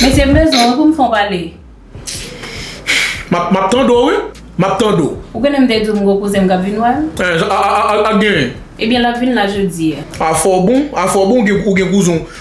Mesye m bezwen w wi pou m fè yon pale. M ap tande w wi, m ap tande w. Ou konnen m te di w m gen yon kouzen m k ap vin wè m? An, sa k genyen? Ebyen l ap vin la jodi. A fè w bon, a fè w bon ou gen kouzen w.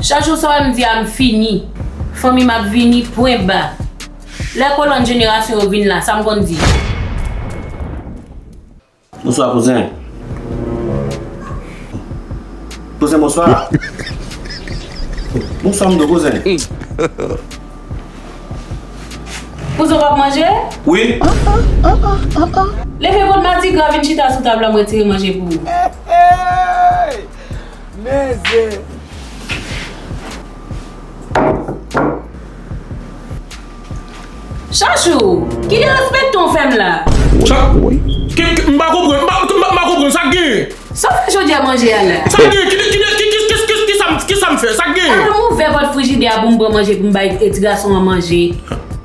Chak jou sa wè m di a m fini. Fanmi m ap vini, pwen ba. Lè kolòn jenerasyon yo vin la, sa m konn di. Bonswa kouzen. Kouzen bonswa. Bonswa m do kouzen. Kouzen w pa p manje? Wi. Leve kont madigra vin chita sou tab la m retire manje pou ou. Mezii. Chachou! Ki derespectan w fè m la? Chachou! M pa konprann, m pa konprann, sa k genyen? Sa w fè jodi a manje a la? Sa k genyen? Ki de, ki de, ki sa m fè? Sa k genyen? Al ouvè pòt frijidè a pou m pran manje pou m bay ti gason an manje.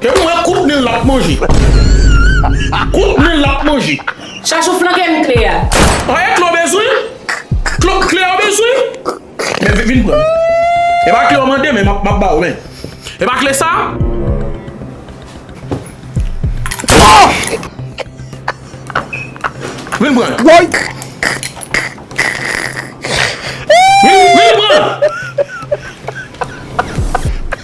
Ke m wè kout nil lap manje. Kout nil lap manje. Chachou flanke m kle a. An e kle w bezwen? Kle a w bezwen? Men vin pran l. E pa kle w mande men map ba w men. E pa kle sa? Vin pran l. Woy! Vin pran l.